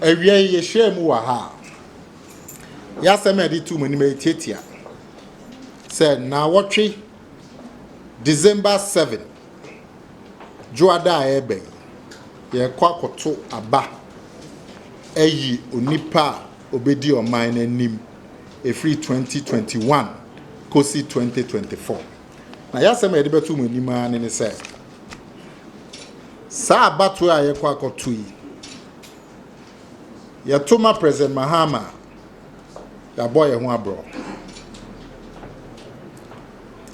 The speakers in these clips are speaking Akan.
Awiei, yɛhyiaa mu wɔ ha a yɛasɛm a yɛde tuu mo anim yi tiatia sɛ nnawɔtwe December 7 Dwoada a ɛrebɛn yi, yɛrekɔ akɔto aba ayi onipa a ɔbɛdi ɔman no anim ɛfiri 2021 kɔsi 2024. Na yɛn asɛm a yɛde bɛto mo anim ara ne ne sɛ, saa abatoɔ a yɛrekɔ akɔto yi, yɛto ma President Mahama a, yɛabɔ yɛn ho aborɔ.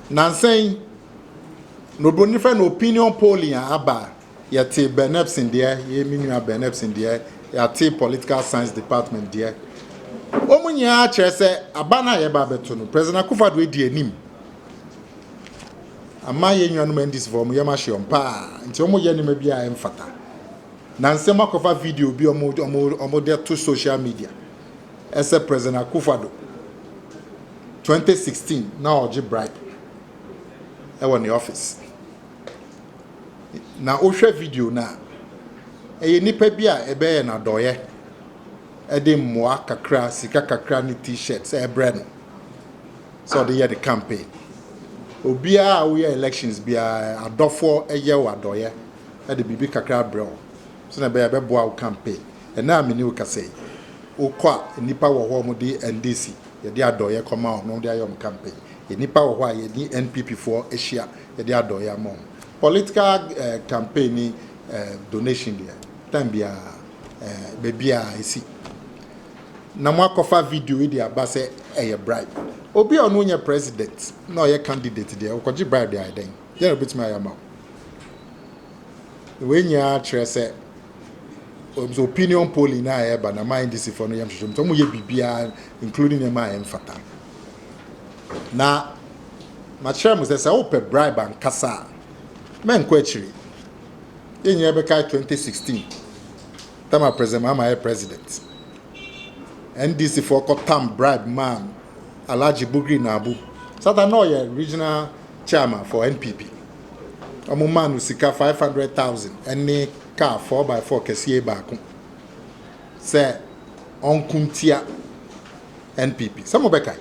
Nansa yi, No bro ne fɛ no opinion polling a aba a yɛte Bernepson deɛ yɛ me nua Bernepson deɛ yɛate political science department deɛ wɔn nyinaa kyerɛ sɛ aba no a yɛba abɛto no President Akufo-Addo adi anim ama yɛn nuanom NDC fo wɔn yɛm ahye wɔn paa nti wɔn yɛ nneɛma bi a ɛmfata na nsɛm akɔfa video bi wɔn wɔn wɔn de to social media ɛsɛ President Akufo-Addo 2016 na ɔgye bribe wɔ ne office. Na wohwɛ video no a, ɛyɛ nnipa bi a ɛbɛyɛ no adɔeɛ ɛde mmoa kakra, sika kakra ne t-shirt sɛ ɛbrɛ no sɛ ɔde yɛ ne campaign. Obiara a woyɛ elections biara adɔfoɔ ɛyɛ wo adɔeɛ ɛde biribi kakra abrɛ wo sɛ na ɛbɛyɛ ɛbɛboa wo campaign. Ɛnɛ a mene wo kasa yi, wokɔ a nnipa wɔ hɔ a wɔde NDC Yɛde adɔeɛ kɔma wɔn na wɔde ayɛ wɔn campaign. Yɛn nnipa wɔ hɔ a yɛne NPP foɔ ahyia, yɛde adɔeɛ ama wɔn. Political eh, campaign ne eh, donation deɛ, time biara, eh, baabiara ɛsi. Na moakɔfa video yi de aba sɛ ɛyɛ bribe. Obi a ɔno nyɛ president na ɔyɛ candidate deɛ, ɔkɔgye bribe de ayɛ dɛn? Deɛ na obɛtumi ayɛ ama wo. Wei nyinaa kyerɛ sɛ Wɔn sɛ opinion polling no a ɛreba na ma NDC fo no yɛ nhwehwɛmu sɛ wɔn yɛ biribiara including nneɛma a ɛmfata. Na makyerɛ mo sɛ sɛ wopɛ bribe ankasa a mɛnkɔ akyiri. Yɛn nyinaa bɛkae 2016 tam a President Mahama yɛ president. NDC fo kɔ tam bribe ma Alhaji Bugri Nabu. Satan na ɔyɛ regional chairman for NPP. Wɔmaa no sika five hundred thousand ne kaa four by four kɛseɛ baako sɛ ɔnko ntia NPP. Sɛ mobɛkae,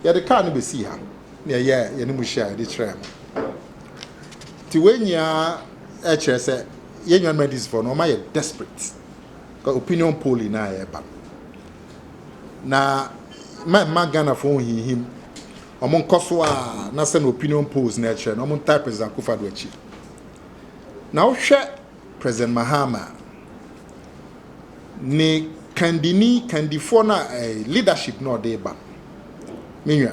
yɛde kaa no bɛsii ha na yɛyɛɛ yɛne mu hyia a yɛde kyerɛɛ mo. Nti wei nyinaa kyerɛ sɛ yɛn nuanom adisifoɔ no wɔma yɛ desperate. Ka opinion polling no a ɛreba no. Na ma mma Ghanafoɔ nhinhim Ɔmo nkɔ so a na sɛnea opinion polls no ɛkyerɛ no ɔmo ntaa President Akuffo Addo akyi. Na wo hwɛ President Mahama a, ne kandini, kandifoɔ no a ɛɛ leadership no a ɔdee ba no, me nua,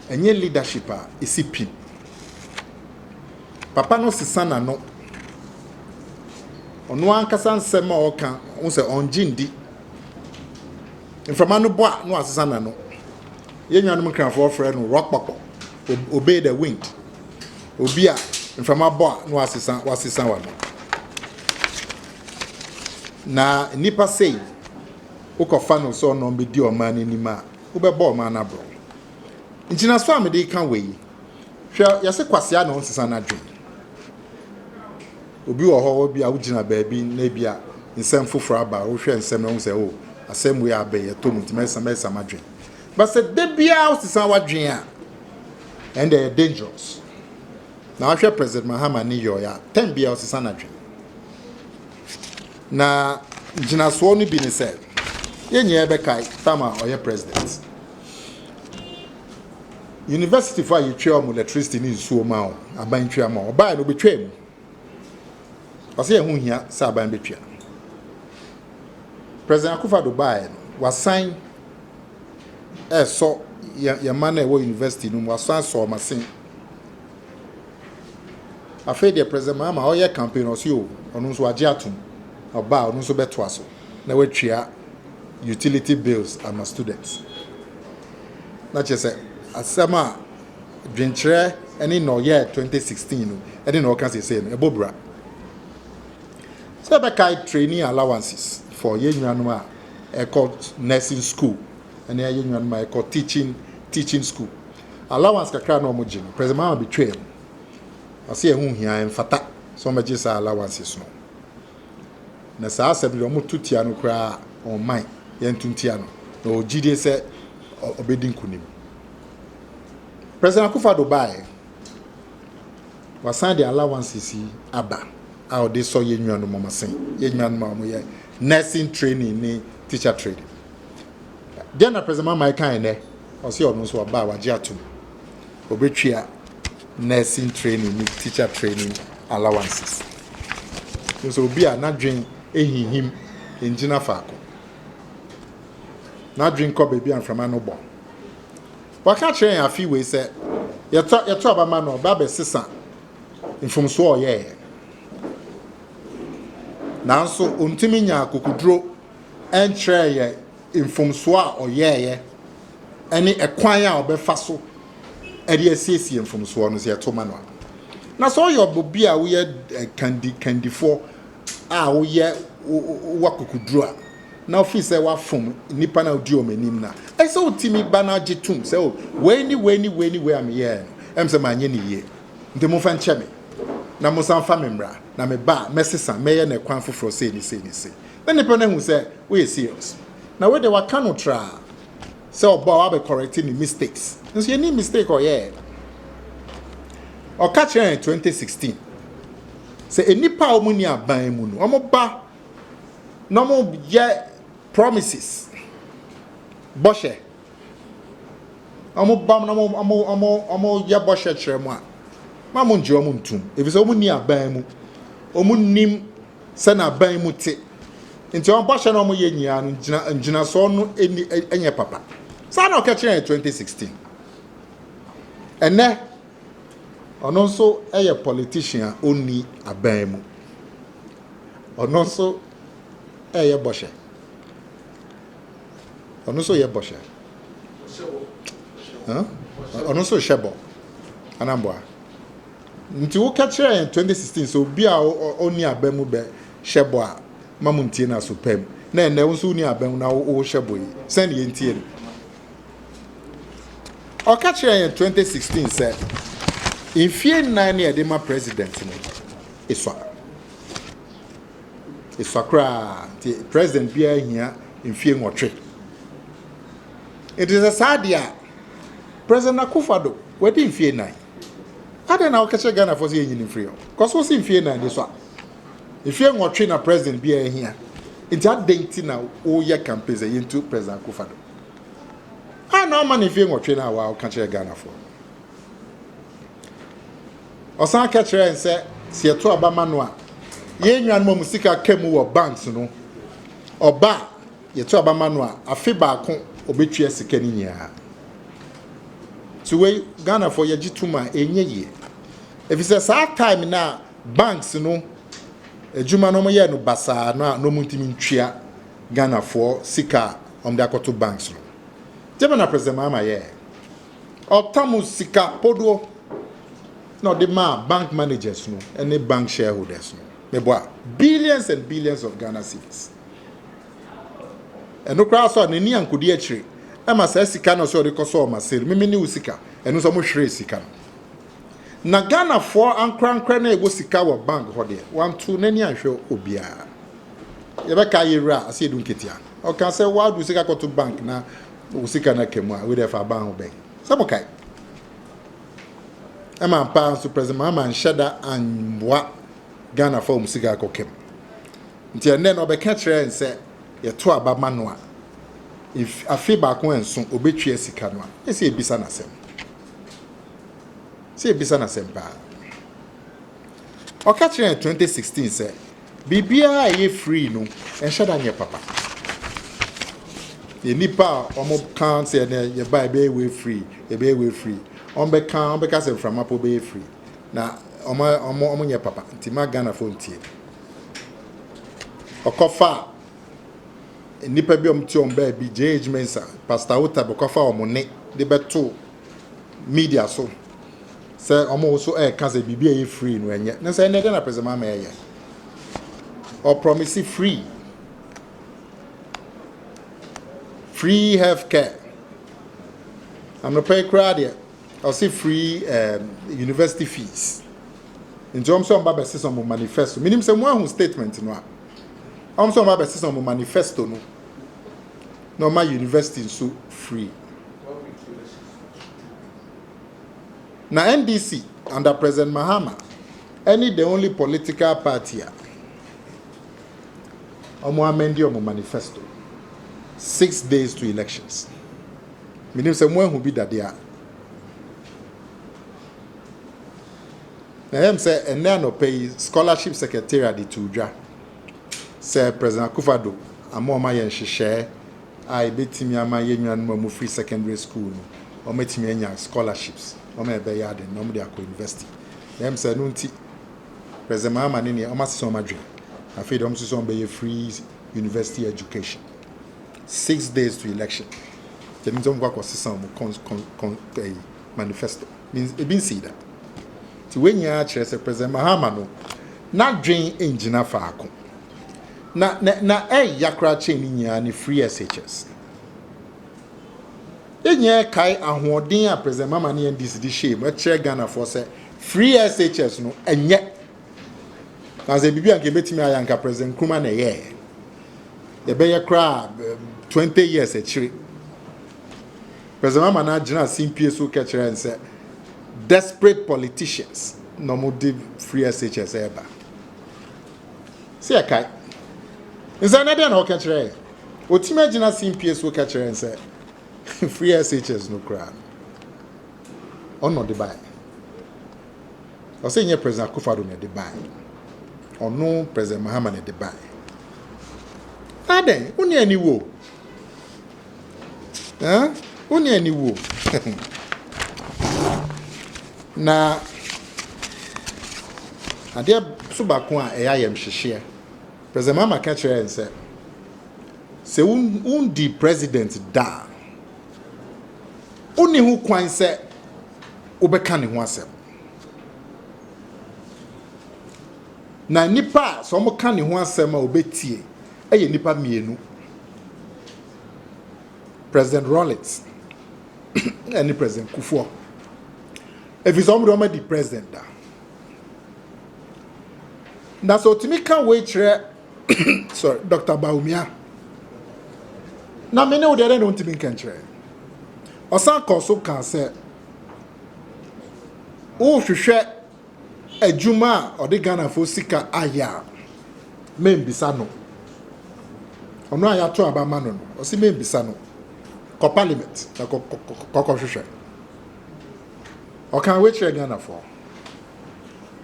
ɛnyɛ leadership a esi pin. Papa no sesa n'ano. Ɔno ankasa nsɛm a ɔɔka, wohu sɛ ɔngye ndi. Mframa no bɔ a na wasesa n'ano. Yɛn nuanom Nkrafoɔ frɛ no rɔkpɔkpɔ, obey the wind, obi a mframa bɔ a na wasesa wasesa w'ano. Na nnipa sei, wokɔfa no sɛ ɔnɔm bɛdi ɔman no anim a, wobɛbɔ ɔman no aborɔ. Ngyinasoɔ a mede ka wei, hwɛ yɛse kwasea na ɔnsesa n'adwen. Obi wɔ hɔ bi a wogyina baabi na ebi a nsɛm foforɔ aba, wohwɛ nsɛm na wohu sɛ o, oh, asɛm wei abɛyɛ tɔ mu nti mɛsa mɛsa m'adwen. But sɛ da biara wosesa w'adwene a, ɛnna ɛyɛ dangerous. Na wahwɛ President Mahama ne yɔe a, tɛm biara ɔsesa n'adwene. Na gyinasoɔ no bi ne sɛ, yɛn nyinaa bɛkae tam a ɔyɛ president. Universityfoɔ a yɛtwa wɔn electricity ne nsuo ma wɔn, aban twa ma wɔn, ɔbaeɛ no ɔbɛtwaa mu. Ɔsɛ ɛho hia sɛ aban bɛtua. President Akufa do baeɛ no, wasan ɛresɔ yɛn yɛn mma no a ɛwɔ university no mu, wasan asɔ wɔn asen. Afei deɛ President Mahama ɔyɛ campaign ɔsɛ o, ɔno nso wagye atom. Ɔba a ɔno nso bɛtoa so na watua utility bills ama students. Na kyerɛ sɛ asɛm a dwenkyerɛ ne nea ɔyɛɛ 2016 no ne nea ɔka seesei no, ɛbɔ bra. Sɛ yɛbɛkae training allowances for yɛn nuanom a ɛkɔ nursing school ne yɛn nuanom a ɛkɔ teaching teaching school. Allowance kakra na wɔgye no, President Mahama betwaa mu. Ɔse ɛho hia ɛmfata sɛ wɔbɛgye saa allowances no. Na saa asɛm de wɔto tia no koraa ɔman yɛnto ntia no na ɔwɔ gyidie sɛ ɔbɛdi nkonim. President Akufo Addo bae. Wasan de allowances yi aba a ɔde sɔ yɛn nuanom wɔn asen. Yɛn nuanom a wɔyɛ nursing training ne teacher training. Deɛ na President Mamae kan nnɛ, ɔsi ɔno nso ɔba a wagye atom. Obetwia nursing training ne teacher training allowances. Nso obi a n'adwen ehihim ngyina faako. N'adwen kɔ baabi a mframa no bɔ. Waka akyerɛ yɛn afe wei sɛ yɛtɔ yɛtɔ aba ma no ɔba bɛsesa mfomsoɔ a ɔyɛeɛ. Nanso ɔntumi nya akokoduro nkyerɛɛ yɛ mfomsoɔ a ɔyɛeɛ ɛne ɛkwan a ɔbɛfa so ɛde asiesie mfomsoɔ no sɛ yɛto ma no a. Na sɛ ɔyɛ ɔbɔbi a woyɛ kandi kandifoɔ a woyɛ w'akokoduru a, na wofi sɛ wafom nnipa na wodi wɔn anim na, ɛsɛ wotumi ba na gye tum sɛ, o, oh, wei ni wei ni wei ni wei a meyɛɛ no, ɛm sɛ manyɛ ne yie. Nti momfa nkyɛ me, na mosan fa me mmra, na me ba a, mɛsesa, mɛyɛ no ɛkwan foforɔ sei ne sei ne sei. Na nnipa no ahu sɛ woyɛ serious. Na wei de waka no traa. sɛ ɔba ɔabɛ correct ne mistakes nso yɛnim mistake ɔyɛɛ ɔka kyerɛ yɛn 2016 sɛ nnipa a wɔn ni aban mu no wɔn ba na wɔn yɛ promises bɔhyɛ wɔn ba na wɔn wɔn wɔn wɔn yɛ bɔhyɛ kyerɛ mu a ma wɔn ngye wɔn ntum efisɛ wɔn ni aban mu wɔn nim. Sɛ n'aban mu te nti wɔn bɔhyɛ na wɔyɛ nyinaa no gyina ngyinasoɔ no ɛni ɛnyɛ papa saa na ɔkɛkyerɛ yɛn 2016 ɛnɛ ɔno nso ɛyɛ politician a ɔnni aban mu ɔno nso ɛyɛ bɔhyɛ ɔno nso yɛ bɔhyɛ ɔno nso hyɛ bɔ anamboa Nti wo kɛ kyerɛ yɛn twenty sixteen sɛ obi a ɔnni abam mu bɛ hyɛ bɔ a ma mo ntie no aso pɛm na ɛnɛ wo nso wonni abam mu na wo wo hyɛ bɔ yi sɛn ne yɛn ntie no ɔka kyerɛ yɛn twenty sixteen sɛ mfie nnan ne ɛde ma president no esua esua koraa nti president biara hia mfie nwɔtwe nti sɛ saa deɛ a President Akuffo Addo, wadi mfie nnan. Adɛn na wokɛkyerɛ Ghanafoɔ sɛ yɛnyi no mfiri hɔ? Because wosi mfie nnan ni so a, mfie nwɔtwe na President biara hia. Nti adɛn nti na woyɛ campaign sɛ yɛntu President Akuffo Addo? Adɛn na wamma no mfie nwɔtwe no a waa woka kyerɛ Ghanafoɔ? Ɔsan ka kyerɛ yɛn sɛ sɛ yɛto aba ma no a, yɛn nuanom a wɔn sika ka mu wɔ banks no, ɔba a, Yɛto aba ma no a afe baako ɔbɛtua sika no nyinaa. Nti wei Ghanafoɔ yɛgye tom a ɛnyɛ yie. Ɛfiri sɛ saa time no a banks no adwuma no wɔyɛɛ no basaa no a na wɔntumi ntua Ghanafoɔ sika a wɔde akɔto banks no. Gyama na President Mahama yɛɛ. Ɔtam sika podoɔ na ɔde maa bank managers no ne bank shareholders no. Meboa billions and billions of Ghana cedis. Ɛno koraa nso a n'ani ankɔdi akyire. Ɛma saa sika no a ɔsɛ ɔde kɔsɔɔ Marseille, meme ne wo sika, ɛno nso wɔhweree sika no. Na Ghanafoɔ ankorankorɛ no a ɛwɔ sika wɔ bank hɔ deɛ, wantoo n'ani anhwɛ obiara. Yɛbɛka yɛwura ase edu nketea. Ɔka sɛ wadu sika kɔto bank na wo sika no aka mu a, wei deɛ fa ban ho bɛn. Sɛ mokae. Ɛma mpaa nso President Mahama anhyɛ da amboa Ghana fa wɔn sika kɔ kɛm. Nti ɛnnɛ no ɔbɛka kyerɛ yɛn sɛ yɛto aba ma no a, afe baako anso ɔbɛtua sika no a, yɛ sɛ yɛbisa no asɛm. Sɛ yɛbisa no asɛm paa. Ɔka kyerɛ yɛn 2016 sɛ biribiara a ɛyɛ free no ɛnhyɛ da nyɛ papa. Yɛ nipa a wɔka sɛ ɛnɛ yɛba ɛbɛyɛ wei free, ɛbɛyɛ wei free. Wɔbɛka, wɔbɛka sɛ mframapɔ bɛyɛ free. Na ɔma ɔmo ɔmo nyɛ papa nti ma Ghana fo ntie. Ɔkɔ fa nnipa bi ɔmo ti ɔmo baabi JH Mensa, Pastor Otab ɔkɔ fa ɔmo ne de bɛ to media so sɛ ɔmo nso ɛɛka sɛ biribi a ɛyɛ free no ɛnyɛ. Ne sɛ ɛnɛ dɛ na President Mahama ɛyɛ. Ɔprɔmisi free. Free health care. Anɔpa yi koraa deɛ. Ɔse free um university fees. Nti ɔm sɛ ɔmba bɛsesa ɔmo manifesto. Menim sɛ mo ahu statement no a. Ɔm sɛ ɔmba bɛsesa ɔmo manifesto no na ɔma university nso free. Na NDC under President Mahama ɛne the only political party a ɔmo amɛndi ɔmo manifesto six days to elections. Menim sɛ moahu bi da dea. Na ɛyɛ me sɛ ɛnnɛ anɔpa yi scholarship secretariat de too dwa sɛ President Akufo-Addo ama wɔn ayɛ nhyehyɛɛ a ebetumi ama yɛn nuanom a wɔfiri secondary school no wɔatumi anya scholarships wɔn a ɛbɛyɛ ade na wɔde akɔ university. Na ɛyɛ me sɛ ɛno nti President Mahama ne neɛ wɔasesa wɔn adwene. Afei de wɔn nso sɛ wɔbɛyɛ free university education. Six days to election ɛno nti ɔmo kɔ akɔ sesa ɔmo kɔns kɔn kɔn ɛyi manifesto means ebi nsii da ti wei nyinaa kyerɛ sɛ president mahama no n'adwen ngyina faako na na na ɛya koraa kyɛn ne nyinaa ne free shs enyɛ kae ahoɔden a president mahama ne ndc de hyɛɛ mu ɛkyerɛ ghanafoɔ sɛ free shs no ɛnyɛ Na sɛ biribi a nka ebetumi ayɛ anka President Nkrumah na ɛyɛɛ. Yɛbɛyɛ koraa twenty years akyire. President Mahama na gyina simpie so kɛkyerɛ nsɛ desperate politicians na wɔn de free SHS ɛreba. Sɛ yɛkae. Nsɛ na deɛ na ɔka kyerɛ yɛ. Otumi agyina simpie so kɛkyerɛ nsɛ free SHS no koraa. Ɔno de bae. Ɔsɛ nyɛ President Akufo Addo na ɛde baeɛ. Ɔno President Mahama na ɛde baeɛ. Na dɛn? Wo ne aniwuo. Eh? Wo ne aniwuo. na adeɛ so baako a ɛyɛ ayɛmhyehyeɛ. President Mahama ka kyerɛ yɛn sɛ sɛ wondi president da a wonni ho kwan sɛ wobɛka ne ho asɛm. Na nnipa a sɛ wɔka ne ho asɛm a obetie yɛ nnipa mmienu. President Rawlings ne President Kufuor. Ɛfiri sɛ wɔn de wɔn adi president da. Na sɛ otumi ka wei kyerɛ sorry dr baumia na me ne wo deɛ dɛn na ɔntumi nkɛnkyerɛ ɔsan kɔɔ so kaa sɛ wohwehwɛ adwuma a ɔde ghanafoɔ sika ayɛ a membisa no ɔno a yɛato aba ma no no ɔse membisa no kɔ parliament na kɔkɔhwehwɛ ɔkan wekyerɛ ghanafoɔ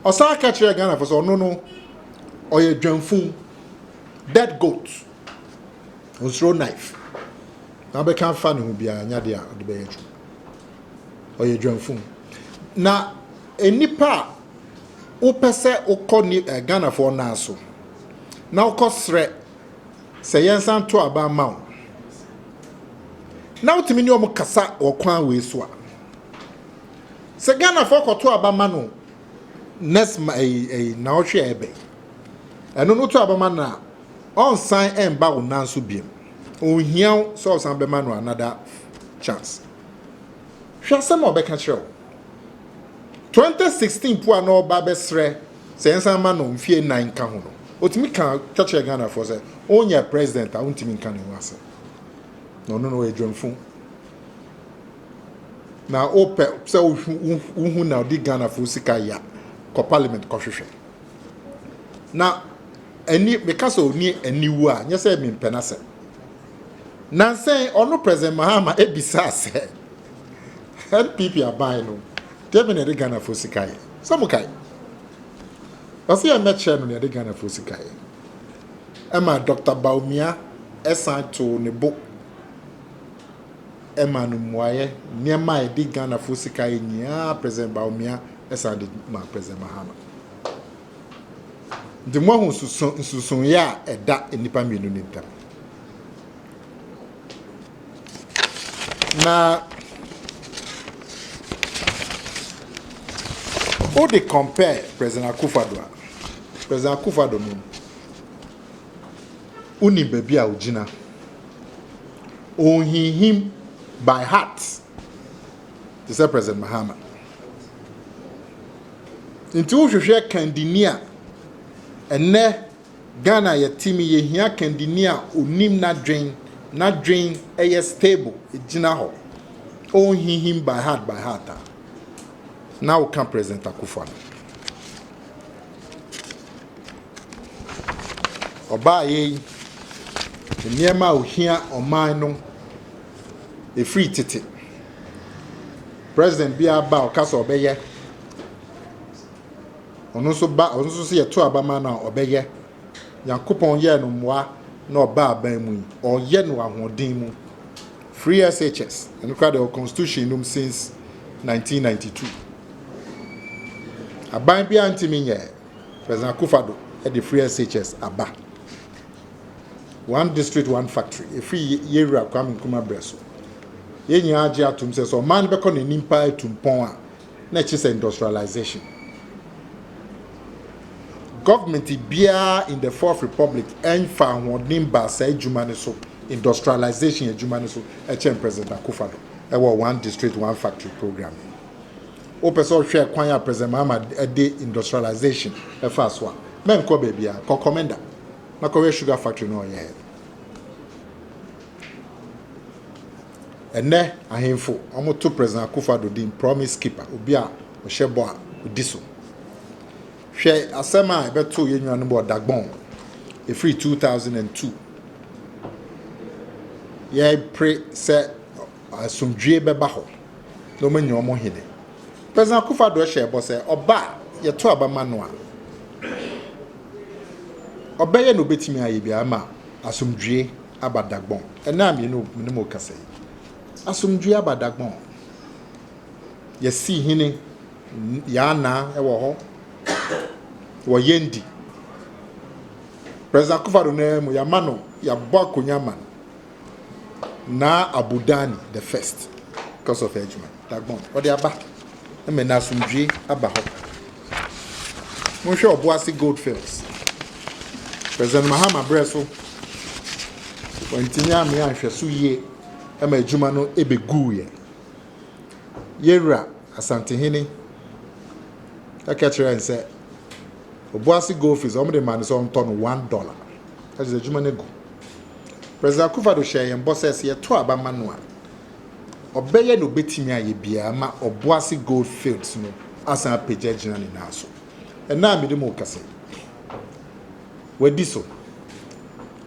Ɔsan ka kyerɛɛ Ghanafo sɛ ɔno no ɔyɛ dwamfun, dead goat. Ɔnsuro knife. Na abɛka afa ne ho biara nya de a ɔde bɛyɛ adwuma. Ɔyɛ dwamfun. Na nnipa a wopɛ sɛ wokɔ ni eh, Ghanafoɔ nan so na wokɔ srɛ sɛ yɛnsan to aba mma wo na wotumi ne wɔn kasa wɔ kwan wei so a, Sɛ Ghana foɔ kɔto aba ma no next ma ɛyi ɛyi na ɔhwɛ a ɛbɛ ɛno no to aba ma no a ɔnsan ɛnba wo nan so biem ɔnhia wo sɛ ɔsan bɛma no another chance hwɛ asɛm a ɔbɛka kyerɛ wo 2016 po a na ɔba bɛsrɛ sɛ ɛnsan ma no mfie nan nka ho no ɔtumi ka ka kyerɛ Ghana foɔ sɛ ɔnyɛ president a ɔntumi nka ne ho asɛm na ɔno no ɔyɛ dwamfo na wopɛ sɛ wohu na ɔde ghanafoɔ sika ya kɔ parliament kɔhwehwɛ na ɛni meka sɛ ɔni aniwu a nyɛ sɛ mempɛ no asɛm nansɛn ɔno president mahama ɛbisaa sɛ npp aban no deɛ bɛ na ɛde ghanafoɔ sika yɛ sɛ mo kae ɔsɛ yɛ mɛkyerɛ no na ɛde ghanafoɔ sika yɛ ɛma dr baumia ɛsan too ne bo ɛma no mmuaeɛ nneɛma a ɛdi Ghanafoɔ sika yɛ nyinaa President Bawumia san de ma President Mahama. Nti moahu nsonsonoeɛ a ɛda nnipa mmienu no ntam. Na wode compare President Akufo-Addo a, President Akufo-Addo no Wonim baabi a ogyina. Onhinhim by heart te sɛ President Mahama. Nti wohwehwɛ kandini a ɛnɛ Ghana yɛte mu yɛhia kandini a onim n'adwen, n'adwen ɛyɛ stable, egyina hɔ. Onhinhim by heart by heart a na woka President Akufo-Addo. Ɔbaeɛ yi, nneɛma a ohia ɔman no ɛfiri tete. President biara ba a ɔka sɛ ɔbɛyɛ, ɔno nso ba ɔno nso sɛ yɛto aba ma no a ɔbɛyɛ. Nyankopɔn yɛɛ no mmoa na ɔba aban mu yi, ɔyɛ no ahoɔden mu. Free SHS, ɛno koraa deɛ ɔwɔ constitution nom since 1992. Aban biara ntumi nyɛɛ. President Akufo-Addo de free SHS aba. One district, one factory. Efiri Yewura Kwame Nkrumah berɛ so. Yɛn nyinaa gye atom sɛ sɛ ɔman no bɛkɔ n'anim paa atu mpɔn a, na ɛkyerɛ sɛ industrialization. Government biara in the Fourth Republic ɛnfa ahoɔden baa saa adwuma no so, industrialization adwuma no so, ɛkyɛn President Akufo-Addo ɛwɔ One District, One Factory program. Wopɛ sɛ ɔhwɛ kwan a President Mahama de industrialization ɛfaa so a, mɛnkɔ baabiara, kɔ Comenda na kɔhwɛ sugar factory no a ɔyɛɛ no. Ɛnnɛ ahemfo, wɔto President Akufo Addo din promise keeper, obi a ɔhyɛ bɔ a ɔdi so. Hwɛ asɛm a ɛbɛtoo yɛn nuanom wɔ Dagbon, ɛfiri 2002. Yɛpere sɛ asomdwie bɛba hɔ. na wɔanya wɔn hene. President Akuffo Addo hyɛɛ bɔ sɛ ɔba a yɛto aba ma no a, ɔbɛyɛ nea obetumi ayɛ biara ama asomdwoe aba Dagbon. Ɛnnɛ a me ne mo rekasa yi, asomdwoe aba Dagbon. Yɛasi hene Yaa Naa wɔ hɔ. Wɔ Yendi. President Akuffo Addo nan mu, yɛama no, yɛabɔ akonnwa ama no. Naa Abu Dani the first because of Ejman Dagbon ɔde aba ɛmɛ na asomdwie aba hɔ. Monhwɛ Ɔboase Goldfields. President Mahama berɛ so wɔntumi amea nhwɛso yie ɛma adwuma no ɛbɛguiɛ. Yɛwura Asantehene ɛka kyerɛ n sɛ Ɔboase Goldfields wɔn de ma no sɛ ɔntɔ no one dollar. Adze edwuma no gu. President Akuffo Addo hyɛɛ hɛn bɔ sɛ, sɛ yɛtow aba ma no a, ɔbɛyɛ dza obetumi ayɛ biara ma Obuasi Goldfields no asan apegya egyina ne nan so. Nna a mede mu rekasa yi, oedi so.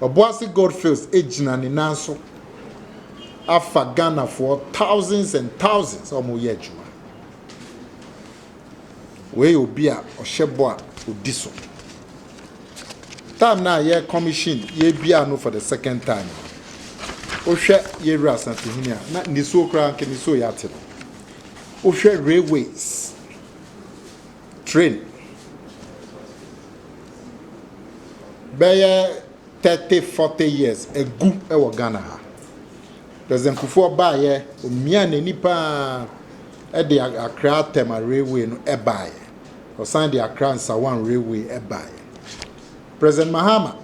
Obuasi Goldfields egyina ne nan so afa Ghanafoɔ thousands and thousands a wɔreyɛ edwuma. Wei yɛ obi a ɔhyɛ bɔ a ɔdi so. Time no a yɛ commission yɛbiaa no for the second time no, wohwɛ yɛwura asantehene a na nisuo koraa nka nisuo yɛ ate no. Wohwɛ railways, train, bɛyɛ 30 40 years agu wɔ Ghana ha. President Kufuor baayɛ, omiaa n'ani paa. de Accra Tema Railway no baeɛ, ɔsan de Accra Nsawam Railway baeɛ. President Mahama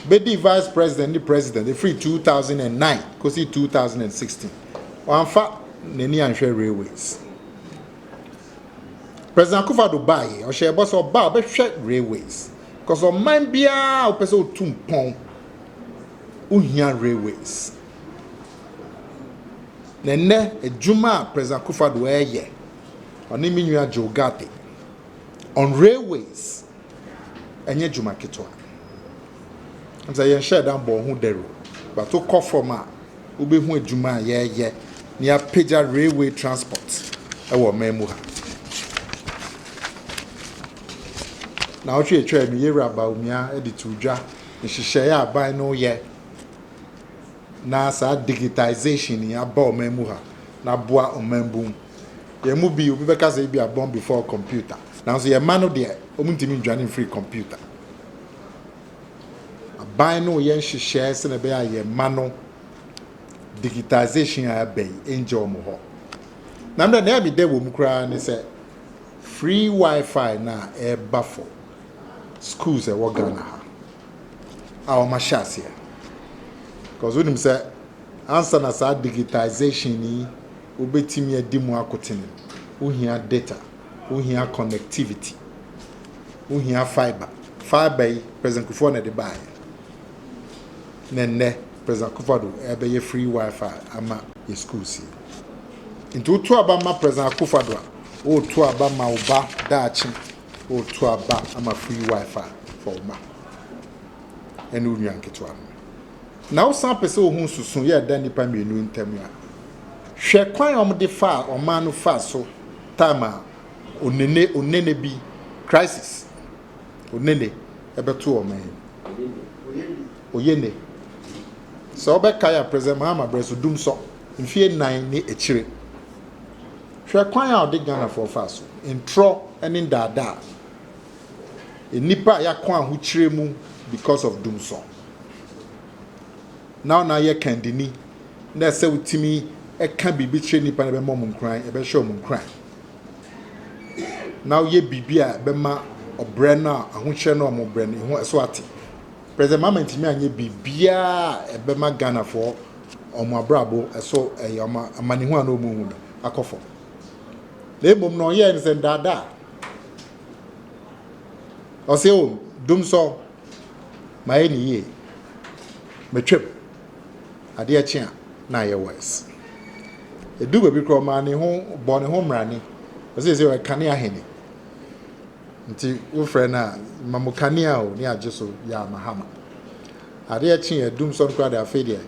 bɛdii Vice President ne President ɛfiri 2009 kɔsi 2016, wamfa n'ani anhwɛ railways. President Akufo-Addo baeɛ, ɔhyɛɛ bɔ sɛ ɔba a ɔbɛhwɛ railways, because ɔman biara a wopɛ sɛ wotu mpɔn, wohia railways. Na ɛnnɛ, adwuma a President Akufo-Addo reyɛ, ɔne me nua Joe Ghartey, on railways, ɛnyɛ adwuma ketewa. Ɛne sɛ yɛnhyɛɛ da mbɔɔ ho dawur o, but wokɔ fam a, wobɛhu adwuma a yɛreyɛ na yɛapagya railway transport wɔ ɔman mu ha. Naawɔtwe a ɛtwaam yi, Yɛwura Bawumia de too dwa nhyehyɛe a aban no reyɛ na saa digitisation yi aba ɔman mu ha na aboa ɔman bu mu. Yɛn mu bi, obi bɛka sɛ ebi a born before computer. Nanso yɛn mma no deɛ, wɔntumi ndwane mfiri computer. Aban no yɛ nhyehyɛe sɛnea ɛbɛyɛ a yɛn mma no digitisation a ɛba yi ɛngyɛ wɔn hɔ. Na mmerɛ na ɛyɛ dɛ wɔ mu koraa ne sɛ free wifi no a ɛreba for schools ɛwɔ Ghana ha. a wɔahyɛ aseɛ cause wonim sɛ ansa na saa digitisation yi wobɛtumi adi mu akoten wohia data wohia connectivity wohia fibre fibre yi president kufuor na ɛde baeɛ na nnɛ president kufuor do ɛbɛyɛ free wifi ama yɛ schools yi nti woto aba ma president kufuor do a woto aba ma wo ba daakye O to aba ama free wifi for wo ma ɛne wo nua nketewa no. Na wo san pɛ sɛ wo ho nsusu yɛ ɛda nnipa mmienu ntam a, hwɛ kwan a wɔde faa ɔman no faa so time a onene onene bi crisis onene ɛbɛto ɔman yi. Oyene. Sɛ wɔbɛkae a President Mahama brɛ so dum sɔ mfie nnan ne akyire. Hwɛ kwan a ɔde Ghanafoɔ faa so, ntorɔ ne ndaadaa, nnipa a yɛakɔ ahokyerɛ mu because of dumsor. Now na yɛ kandini na ɛsɛ wotumi ɛka biribi kyerɛ nnipa na ɛbɛma wɔn nkuran, ɛbɛhyɛ wɔn nkuran. Now yɛ biribi a ɛbɛma ɔbrɛ no a ahokyerɛ no a wɔbrɛ no ɛho ɛso ate. President Mahama ntumi anyɛ biribiara a ɛbɛma Ghanafoɔ wɔn abrabɔ so yɛ wɔn amanehunu a na wɔrehu no akɔ fam. Na mmom no ɔyɛɛ no sɛ nnaadaa. Ɔsɛ o, dum sɔ, mayɛ no yie, metwam, adeɛ kye a na ayɛ worse. Ɛduu baabi koraa ɔmaa ne ho, ɔbɔɔ ne ho mmarane, ɔsɛ sɛ ɔyɛ kanea hene. Nti wofrɛ no a ma mo kanea o ne agye so yaa mahama adeɛ kye adum sɔn koraa de afei deɛ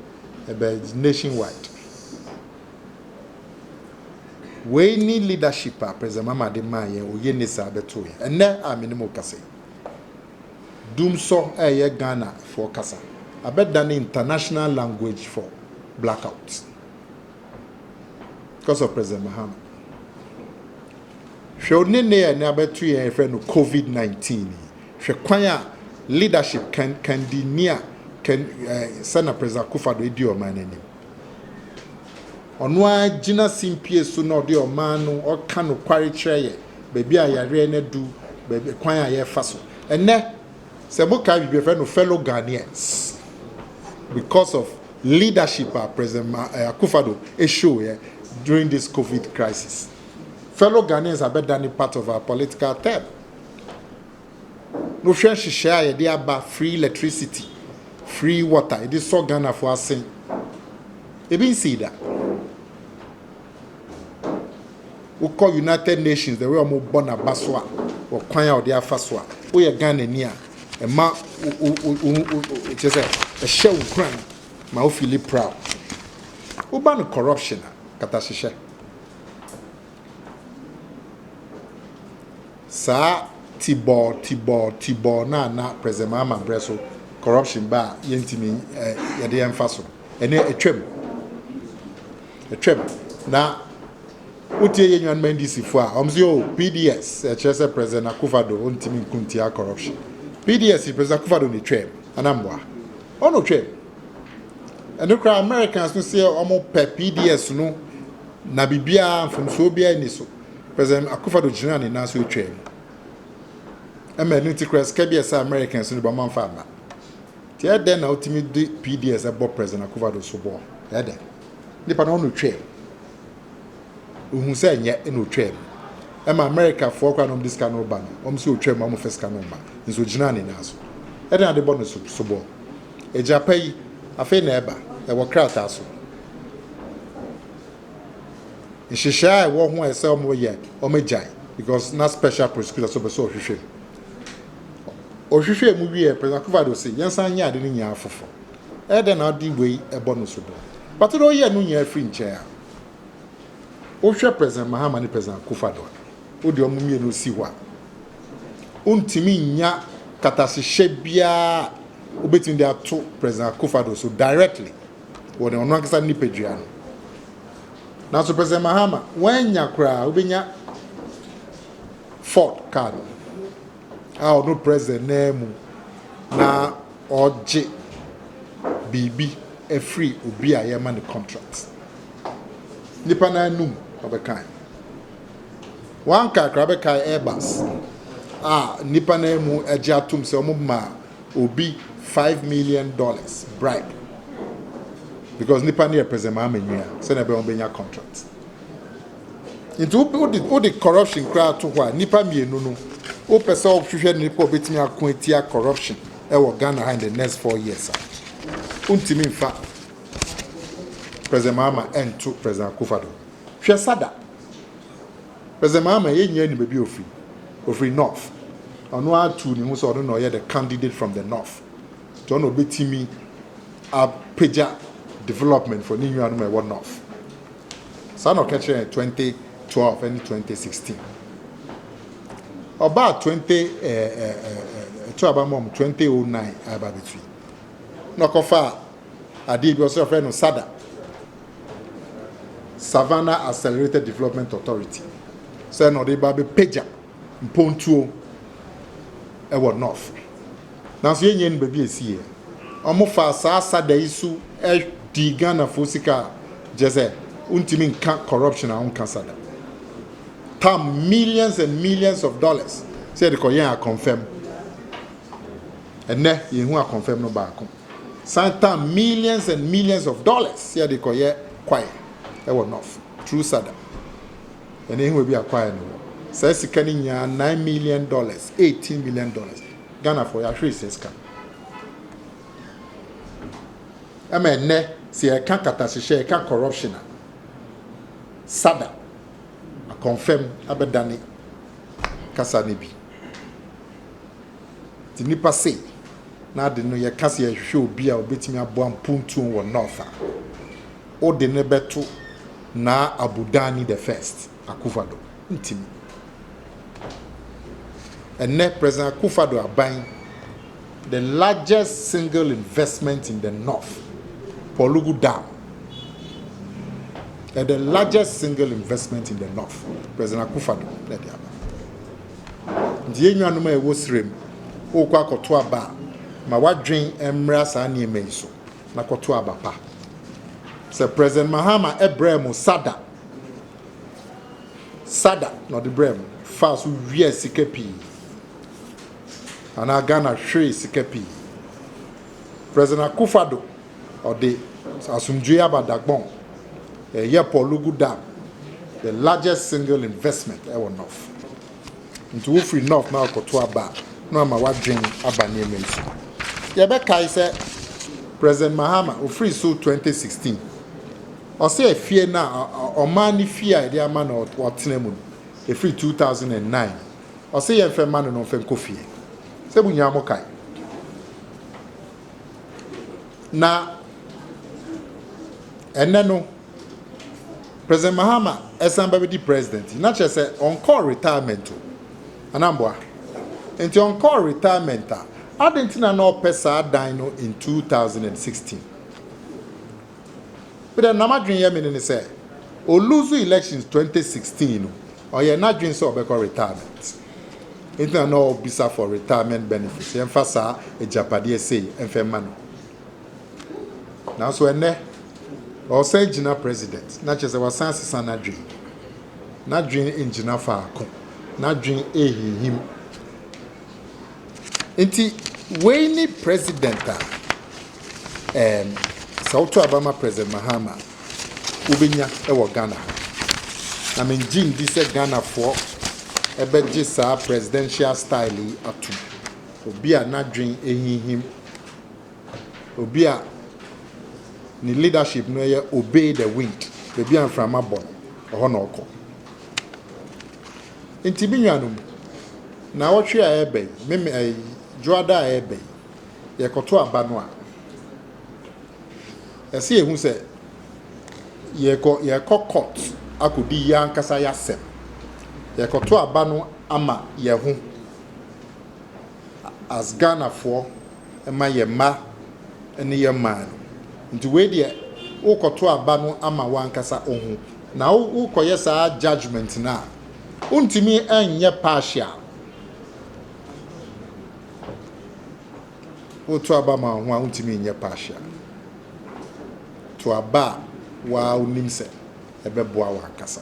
ɛbɛ nation wide wei ne leadership a president mama de maa yɛn oye ne saa bɛto yɛn ɛnɛ a me ne mo kasa yi dum sɔ ɛyɛ Ghana foɔ kasa abɛdane international language for blackout. because of President Mahama. Hwɛ o ne ne a ne abɛto yɛn yɛfrɛ no COVID-19 yi. Hwɛ kwan a leadership kan kan di ni a kan eh, sɛ na President Akufo-Addo edi ɔman n'anim. Ɔno ara gyina simpie so na ɔde ɔman no ɔka nokware kyerɛ yɛ baabi a yareɛ no adu, baabi kwan a yɛfa so. Ɛnɛ Sɛ mo kae biribi a yɛfrɛ no Fellow Ghanaians because of leadership a President Ma eh, Akufo Addo show yɛ during this COVID crisis. Fellow Ghanaians abɛdane part of our political term. Wohwɛ nhyehyɛe a yɛde aba free electricity, free water, yɛde sɔ Ghanafo asen. Ebi nsii da. Wokɔ United Nations the way wɔn bɔ n'aba so a wɔ kwan a ɔde afa so a woyɛ Ghana ni a ɛma wo wo wo wo kyerɛ sɛ ɛhyɛ wo nkuran ma wo feel proud woba no corruption a katahyehyɛ saa tibɔɔ tibɔɔ tibɔɔ na na president mahama brɛ so corruption ba a yɛntumi yɛde yɛn fa so ɛnɛ atwam. Atwam na wotie yɛ nuanom NDC fo a wɔn se oh PDS ɛkyerɛ sɛ President Akufado ontimi nko ntia corruption. PDS yi President Akufado na etwam anamboa. Ɔna otwam. Ɛno koraa Americans no se wɔn pɛ PDS no na biribiara mfomsoɔ biara ni so. President Akufado gyina ne nan so etwam. Ɛma ɛno nti koraa sika bi ɛsɛ Americans no bɔ mamfa mma. Tseɛ dɛn na otumi de PDS bɔ President Akufo-Addo soboɔ? Ɛyɛ dɛn? Nipa no ɔno otwaam. Ohun sɛ ɛnyɛ na otwaam. Ɛma America foɔ koraa na wɔn de sika no ba no, wɔn sɛ otwaam a wɔn fɛ sika no mma. Nso ogyinaa ne nan so. Ɛdɛn na ade bɔ no soboɔ? Egya pa yi, afei na ɛba. Ɛwɔ krataa so. Nhyehyɛe a ɛwɔ ho a ɛsɛ wɔn yɛ, wɔn agyae because na special prosecutor nso pɛ sɛ ɔhwehwɛ mu. Ɔhwehwɛɛ mu wiee President Akufo-Addo se yɛnsan nyɛ ade no nyinaa foforo. Ɛyɛ dɛn na ɔde wei bɔ no sobo? But na ɔyɛ no nyinaa firi nkyɛn a. Wohwɛ President Mahama ne President Akufo-Addo a, wode wɔn mmienu si hɔ a, wontumi nnya nkatahyehyɛ biara a wobetumi de ato President Akufo-Addo so directly wɔ ne ɔno ankasa ne nipadua no. Nanso President Mahama, wannya koraa, wobenya Ford car no a ɔno president naa mu na ɔgye biribi afiri obi a yɛma ne contract. Nipa no anum ɔbɛkae. Wɔn kakra bɛkae Airbus a nipa no mu agye atom sɛ wɔn ma obi five million dollars bribe because nipa no yɛ president Mahama nua sɛnea ɛbɛn wɔn bɛnya contract. Nti wo wode wode corruption koraa to hɔ a nipa mmienu no wopɛ sɛ wohwehwɛ nipa obetumi ako atia corruption ɛwɔ Ghana ha in the next four years a wontumi nfa President Mahama ɛnto President Akufado hwɛ sada President Mahama yɛ nyɛ nim ebi ofiri ofiri north ɔno atuu ne ho sɛ ɔno na ɔyɛ the candidate from the north nti ɔno obetumi apagya development for ne nuanom ɛwɔ north Saa na ɔka kyerɛɛ twenty twelve ɛne twenty sixteen. Ɔbaa twenty ɛɛ ɛto aba mɔm twenty oh nine aba betui. Na ɔkɔfa adeɛ bi ɔsɛ ɔfrɛ no SADA. Savannah Accelerated Development Authority. Sɛ na ɔde ba bɛpagya. Mpontuo wɔ North nanso yɛn nyɛ nim baabi a ɛsiiɛ. Wɔn faa saa sada yi so dii Ghanafoɔ sika a kyerɛ sɛ wontumi nka corruption a wonka sada. Tam millions and millions of dollars sɛ yɛde kɔ yɛn akɔnfɛm. Ɛnɛ yɛn hu akɔnfɛm no baako. San tam millions and millions of dollars sɛ yɛde kɔ yɛ kwaeɛ ɛwɔ North through sada. Ɛno ehewa bi a kwae no wɔ. Saa sika no nyaa nine million dollars, eighteen million dollars. Ghanafoɔ yɛahwere saa sika no. Ɛma ɛnnɛ sɛ yɛka katahyehyɛ, yɛka corruption a, sada, akɔmfɛm abɛdane kasa no bi. Nti nnipa se na ade no yɛka sɛ yɛhwehwɛ obi a obetumi aboa mpuntuo wɔ North a, wode no bɛto Naa Abu Danni the First Akufo Addo ntimi. Ɛnnɛ President Akufo Addo aban, the largest single investment in the North, Pɔlugu Dam, ɛ the largest single investment in the North, President Akufo Addo na ɛde aba. Nti yɛn nuanom a ɛwɔ srem, wokɔ akɔto aba a, ma wadwen mmra saa nneɛma yi so. na kɔto aba pa. Sɛ President Mahama brɛɛ mo sada, sada na ɔde brɛɛ mo, faa so wiaa sika pii anaa Ghana hweree sika pii. President Akufo Addo, ɔde asomdwoe aba Dagbon, yɛyɛɛ Port Lugu Dam, the largest single investment ɛwɔ North. Nti wofiri North na wɔkɔto aba a, na wɔama w'adwene aba nneɛma yi so. Yɛbɛkae sɛ President Mahama, ofiri so 2016, ɔse afie no a, ɔman no fie a yɛde ama no ɔtena mu no, ɛfiri 2009, ɔse yɛmfa mma no na ɔmfa nkɔ fie. Sɛ mo nyinaa mo kae. Na ɛnɛ no, President Mahama san bɛbɛdi president yi, na kyerɛ sɛ ɔnkɔɔ retirement o. Anaa mboa? Nti ɔnkɔɔ retirement a, adɛn nti na na ɔpɛ saa dan no in 2016? Me dɛ na m'adwen yɛ me ne ne sɛ, o lose elections 2016 no, ɔyɛɛ n'adwen sɛ ɔbɛkɔ retirement. Nti na na ɔɔbisa for retirement benefits, yɛmfa saa agyapadeɛ sei mfa mma no. Nanso ɛnnɛ, ɔresan agyina president, na kyerɛ sɛ wasan asesa n'adwene. N'adwene ngyina faako. N'adwene rehinhim. Nti wei ne president a ɛɛm, sɛ woto aba ma President Mahama a, wobɛnya wɔ Ghana ha. Na mengye ndi sɛ Ghanafoɔ bɛgye saa presidential style yi atom. Obi a n'adwene rehinhim. obi a ne leadership no yɛ obey the wind baabi a mframa bɔ no ɛhɔ na ɔkɔ nti bi nwa no mu na wɔtwe a ɛbɛ yi meme ɛyi dwoada a ɛbɛ yi yɛkɔto aba no a ɛsɛ yɛhu sɛ yɛkɔ yɛkɔ court akɔdi yɛ ankasa yɛasɛm yɛkɔto aba no ama yɛ ho as Ghanafoɔ ma yɛn mma ne yɛn man no. Nti wei deɛ wokɔto aba no ama w'ankasa ohu. Na wokɔyɛ saa judgement no a, wontumi nyɛ partial. Woto aba ma wo ho a, wontumi nyɛ partial. To aba a woa wonim sɛ ɛbɛboa w'ankasa.